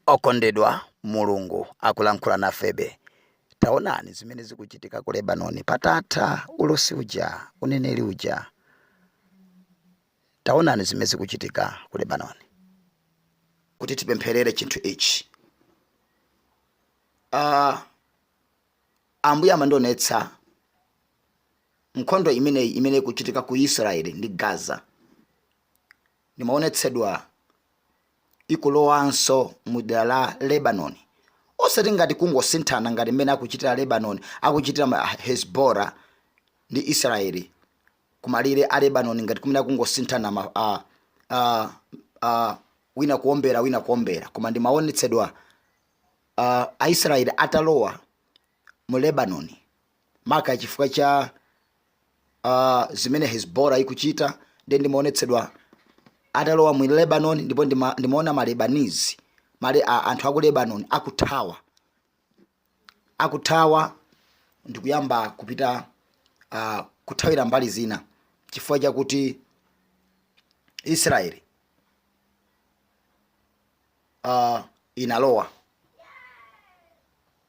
Okondedwa, Mulungu akulankhula nafebe. Taonani zimene zikuchitika ku Lebanoni patatha ulosi uja, uneneri uja. Taonani zimene zikuchitika ku Lebanoni. kuti tipempherere chinthu ichi uh, ambuye amandionetsa nkhondo imeneyi imene ikuchitika ku israeli ndi gaza ndimaonetsedwa ikulowanso mu dera la Lebanoni, osati ngati kungosinthana ngati mmene akuchitira Lebanoni, akuchitira ma- Hezbollah ndi Israeli kumalire a Lebanoni ngati kumene akungosinthana ma- a- a- a- wina kuombera wina kuombera, koma ndimaonetsedwa Aisraeli atalowa mu Lebanoni maka chifukwa cha uh, zimene hezbollah ikuchita nde ndimaonetsedwa atalowa mu lebanon ndipo ndima- ndimaona malebanese male, a, anthu aku lebanon akuthawa akuthawa ndikuyamba kupita uh, kuthawira mbali zina chifukwa chakuti israeli uh, inalowa